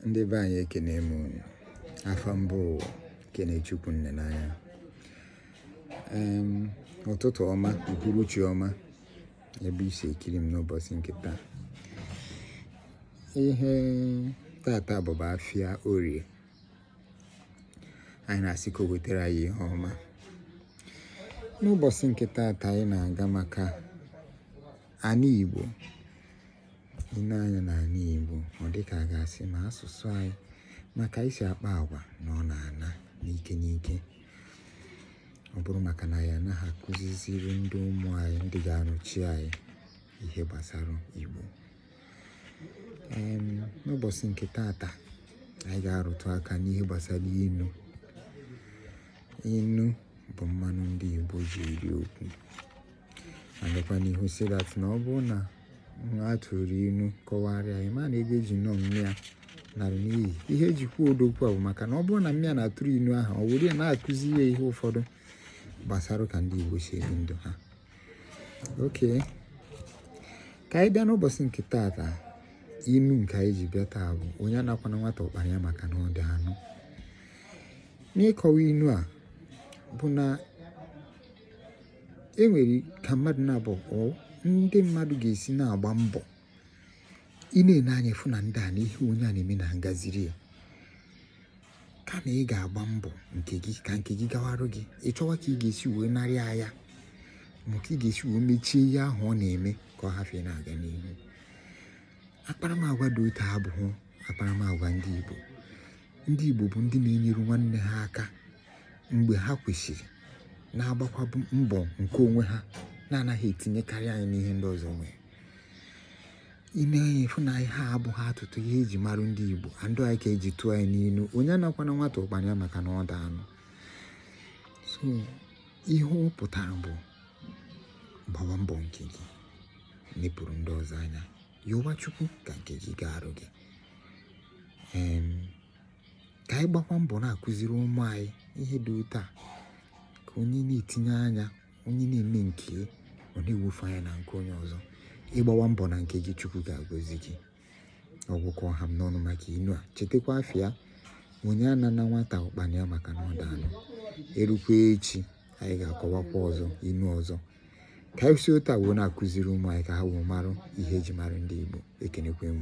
ndị be anyị ekene m unu afa m bụ Kenechukwu Nnenanya ụtụtụ ọma uhuruchi ọma ebe i si ekiri m n'ụbọsị nke taa ihe tata bụ bụ afịa orie anyị na-asị ka o wetara anyị ihe ọma n'ụbọsị nke tata anyị na-aga maka ana Igbo i nee anya n'ana Igbo ọ dịka a ga-asị ma asụsụ anyị ma ka anyị si akpa agwa na ọ na-ana n'ike n'ike ọ bụrụ maka na anyị anaghị akụziziri ndị ụmụ anyị ndị ga-anọchi anyị ihe gbasara Igbo n'ụbọsị nke tata anyị ga-arụtụ aka n'ihe gbasara inu inu bụ mmanụ ndị Igbo ji eri okwu a gakwa n'ihu sị that na ọ bụrụ na a tụrụ inu kọwarịa ya ma na ego eji nụọ nne ya nara n'iyi ihe eji kwuo ụdị okwu a bụ maka na ọ bụrụ na nne ya na-atụrụ inu ahụ o were ya na-akụzi ya ihe ụfọdụ gbasara ka ndị Igbo si ebi ndụ ha okay ka anyị bịa n'ụbọsị nke taata inu nke anyị ji bịa taa bụ onye anakwana nwata ụkpana ya maka na ọ dị anụ nkọwa inu a bụ na e nwere ka mmadụ na-abụ ndị mmadụ ga-esi na-agba mbọ i nenee anya fụ na ndị a na ihe onye a na-eme na-agaziri ya kama ị ga-agba mbọ nke gị ka nke gị gawarụ gị ị chọwa ka ị ga-esi wee narị ya ya ma ka ị ga-esi wee mechie ihe ahụ ọ na-eme ka ọ hafụ ịna-aga n'ihu akparamagwa dị otu a abụghị akparamagwa ndị Igbo ndị Igbo bụ ndị na-enyere nwanne ha aka mgbe ha kwesịrị na-agbakwa mbọ nke onwe ha na-anaghị etinyekarị anya n'ihe ndị ọzọ nwere i nee anya fụ na ihe a abụghị atụtụ ihe eji marụ ndị Igbo and ọ ya ka eji tụọ ya n'inu onye anakwana nwata ụkpana ya maka na ọ dị anụ so ihe ọ pụtara bụ gbawa mbọ nke gị nepụrụ ndị ọzọ anya yọwa Chukwu ka nke gị gaarụ gị ka anyị gbakwa mbọ na-akụziri ụmụ anyị ihe dị otu a ka onye na-etinye anya onye na-eme nke ya na-ewefụ anya na nke onye ọzọ ị gbawa mbọ na nke gị chukwu ga-agọzi gị ọ gwụ ka ọ ha m n'ọnụ maka inu a chetakwa afa ya onye anana nwata ụkpana ya maka na ọ dị anụ e rukwa echi anyị ga-akọwakwa ọzọ inu ọzọ ka anyị si otu a wee na-akụziri ụmụ anyị ka ha wee marụ ihe eji marụ ndị Igbo ekenekwa m